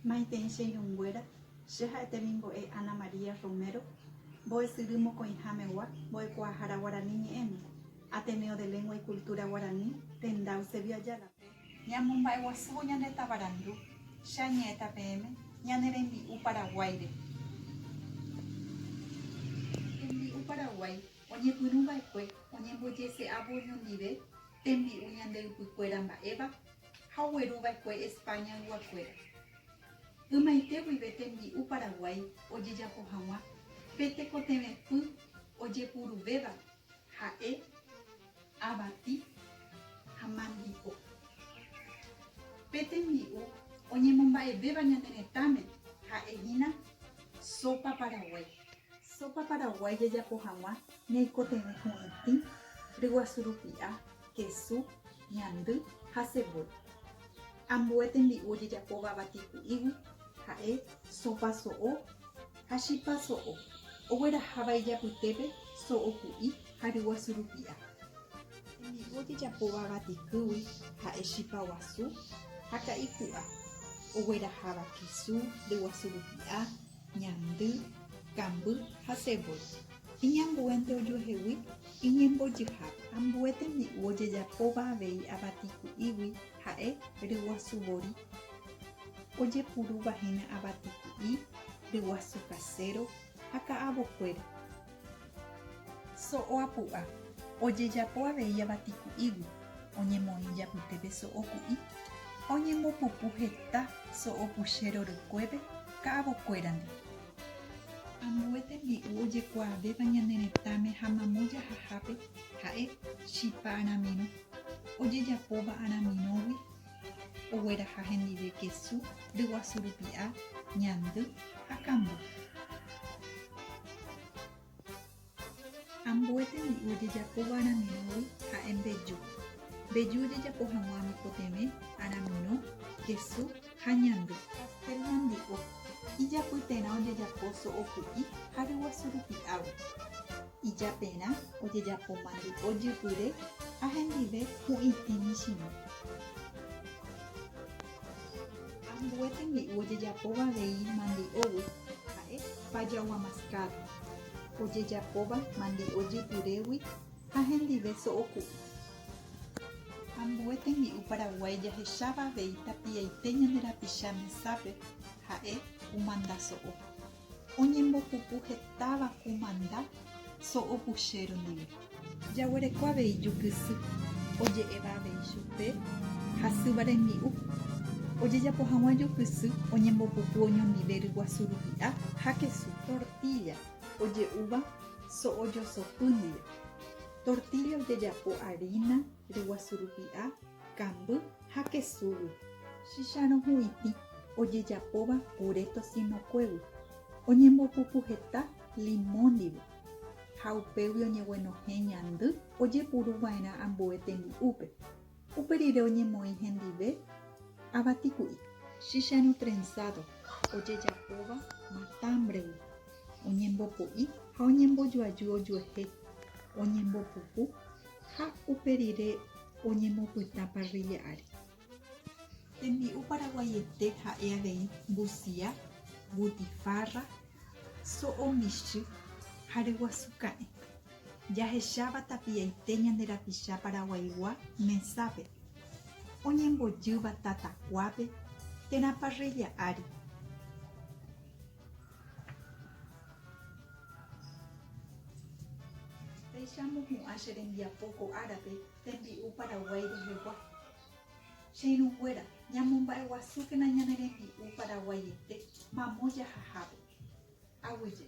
Maitei che irũnguéra, che ha'e temimbo'e Ana María Romero, mbo'esyry mokõihámegua, mbo'ekuaahára guarani ñe'ẽme, Ateneo de Lengua y Cultura Guaraní, tenda Eusebio Ayala. Ñamomba'eguasúvo ñande tavarandu, che añe'ẽta peẽme, ñane rembi'u Paraguáire. Rembi'u Paraguái. Oñepyrũ va'ekue oñembojese'ávo oñondive tembi'u ñande ypykuéra mba'éva ha ogueru va'ekue España yguakuéra. Ymaite guive tembi'u Paraguái ojejapo haguã pe tekotevẽpy ojepuruvéva ha'e Avati ha mandipo. Pe tembi'u oñemomba'evéva ñane retãme ha'e hína sopa paraguái. Sopa paraguái jajapo hag̃ua ñaikotevẽ hu'itĩ, ryguasu rupi'a, kesu, ñandy ha cebolla. Ambue tembi'u ojejapóva avati ku'ígui ha'e sopa so'o ha chipa so'o, ogueraháva ijapytépe so'o ku'i, ha ryguasu rupi'a. Tembi'u jejapóva vatikýgui ha'e chipa guasu ha ka'i pu'a, ogueraháva kesu, ryguasu rupi'a, ñandy, kamby ha cebolla. Iñambuénte ojuehegui iñembojyhápe. Ambue tembi'u ojejapóva avei avatiku'ígui ha'e ryguasu vori. Ojepurúva hína avatiku'i, ryguasu kaséro ha ka'avokuéra. So'o apu'a, ojejapo avei avati ku'ígui, oñemoĩ japytépe so'o ku'i, oñembopupu heta so'o puche rorykuépe ka'avokuérandi. Ambue tembi'u ojekuaavéva ñane retãme ha mamo jahahápe ha'e chipa aramirõ, ojejapóva aramirõgui ogueraha hendive kesu, ryguasu rupi'a, ñandy ha kambu. Ambue tembi'u ojejapo va'erãmerõgui ha'e mbeju. Mbeju ojejapo hag̃ua mikotevẽ, aramirõ, kesu ha ñandy. Pastel ñandy'u, ijapy terã ojejapo so'o ku'i ha ryguasu rupi'águi. Ijaperã ojejapo mandu'o jypyre ha hendive hu'itĩ michĩmi. Ambue tembi'u ojejapóva avei mandi'ógui ha'e pajagua mascado, ojejapóva mandi'o jypyrégui ha hendive so'oku'u. Ambue tembi'u Paraguái jahecháva avei tapiaite ñande rapicha mesápe ha'e kumanda so'o. Oñembopupu hetáva ku manda so'opuchéro ndive. Jaguereko avei jukysy oje'éva avei chupe hasýva rembi'u. Ojejapo hag̃ua jukysy oñembopupu oñondive ryguasu rupi'a ha kesu. Tortílla oje'úva so'ojosopy ndive. Tortílla ojejapo arína, ryguasu rupi'a, Kamby ha kesúgui. Chicharõ hu'itĩ ojejapóva puré tosinokuégui, oñembopupu heta limõ ndive, ha upégui oñeguenohẽ ñandy ojepuru va'erã ambue tembi'úpe. Upe rire oñemoĩ hendive avatiku'i. Chicharõ trensádo ojejapóva matámbregui, oñembopo'i ha oñembojoaju ojuehe, oñembopupu Ha upe rire oñemopyta parrilla ári. Tembi'u paraguaiete ha'e avei mbusia, butifarra, so'o michy ha ryguasu ka'ẽ. Jahecháva tapiaite ñande rapicha paraguaigua mesápe, oñembojýva tatakuápe térã parrilla ári. Péicha amopu'ã che rembiapo ko árape tembi'u Paraguái rehegua. Che irũnguéra, ñamomba'eguasúkena ñane rembi'u paraguaiete mamo jahahápe. Aguyje.